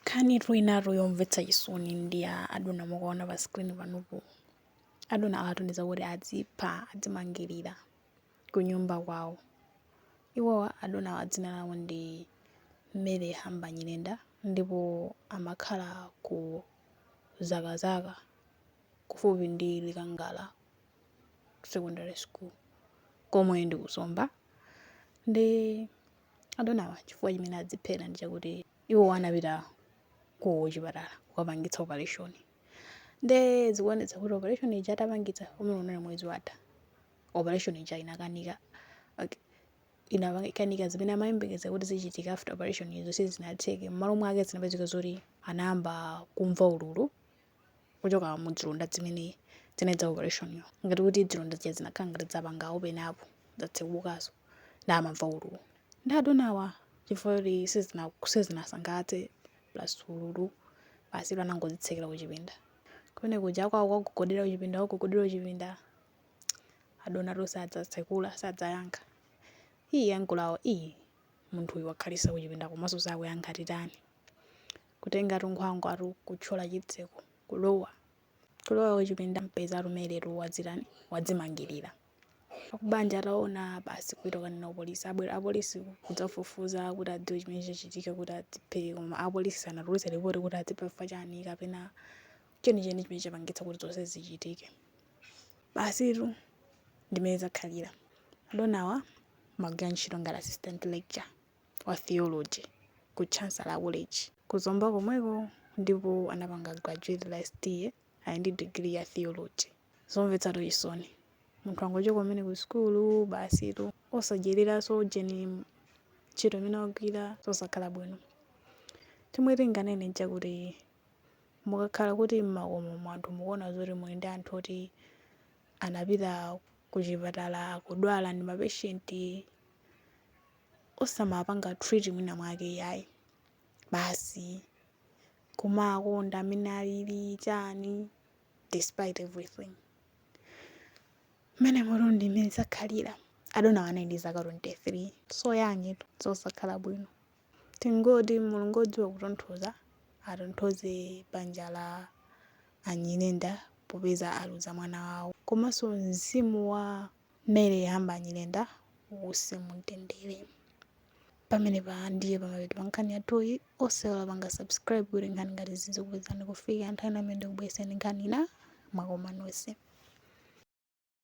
Nkhani inatu yomvetsa chisoni ndi ya adona mukuwaona pa screen panopo. Adona awatumiza kuti adzipha, adzimangirira kunyumba kwawo. Iwowa adonawa dzina lawo ndi Mary Hamba Nyirenda ndipo amakhala ku Zakazaka kufupi ndi Likangala Secondary School komwe ndi ku Zomba. Nde adonawa chifukwa chimene adziphera ndi chakuti. iwowo anapita ku chipatala kukapangitsa operation nde zikuonetsa kuti operation ija atapangitsa umene unali mwezi watha operation ija inakanika. inakanika zimene amayembekeza kuti zichitika after operation izo sizinatheke mmalo mwake zinapezeka zoti anayamba kumva ululu kuchoka mu zilonda zimene zinadza operation yo ngati kuti zilonda zija zinakhala ngati zapanga open up zatsekukaso nde amamva ululu nde adonawa chifukwa kuti sizina sizinasangalatse plus ululu basi iwo anangodzitsekera kuchipinda kumene kuja kwawo kuwagogodera kuchipinda kuwagogodera kuchipinda adonatu sadzatsekula sadzayankha iyi akubanjawo iyi munthu uyu wakhalisa kuchipinda komanso sakuyankha titani kutengatu nkhwangwatu kutchola chitseko kulowa kulowa kuchipinda kupeza a Mary tu adzitani adzimangirira akubanja ataona basi kupita kukanena apolisi abwera apolisi kudzafufuza kuti adziwe chimene chachitika kuti adziphe koma apolisi sanatulutse ripoti kuti adzipha chifukwa chani kapena chenicheni chimene chapangitsa kuti zonse zichitike basitu ndi mmene zakhalira adonawa amagwira ntchito ngati assistant lecture wa theology ku Chancellor College ku Zomba komweko ndipo anapanga graduate last year ali ndi degree ya theology. Zomvetsatu chisoni. Munthu wangochoka kumene ku sukulu basitu osadyereraso geni ntchito imene wagwira zosakhala bwino. Chomwe tinganene nchakuti mukakhala kuti mmakomomo anthu mukuona zoti muli ndi anthu oti anapita kuchipatala akudwala ndi mapatient osamawapanga treat mwina mwake iyayi basi kumawakonda mmene alili chani despite everything mmenemotu ndi mmene zakhalira adonawa anali ndi zaka 23 so young tu zosakhala bwino tingoti mulungu odziwa kutonthoza atonthoze banja la a Nyirenda popeza aluza mwana wawo komanso mzimu wa Mary Hamba Nyirenda uuse mu mtendere pamenepa ndiye pamapeto pa nkhani yathuyi osaiwala kupanga subscribe kuti nkhani ngati izi zikupezani kufika nthawi imene ndikubweretsereni nkhani ina mwakoma nonse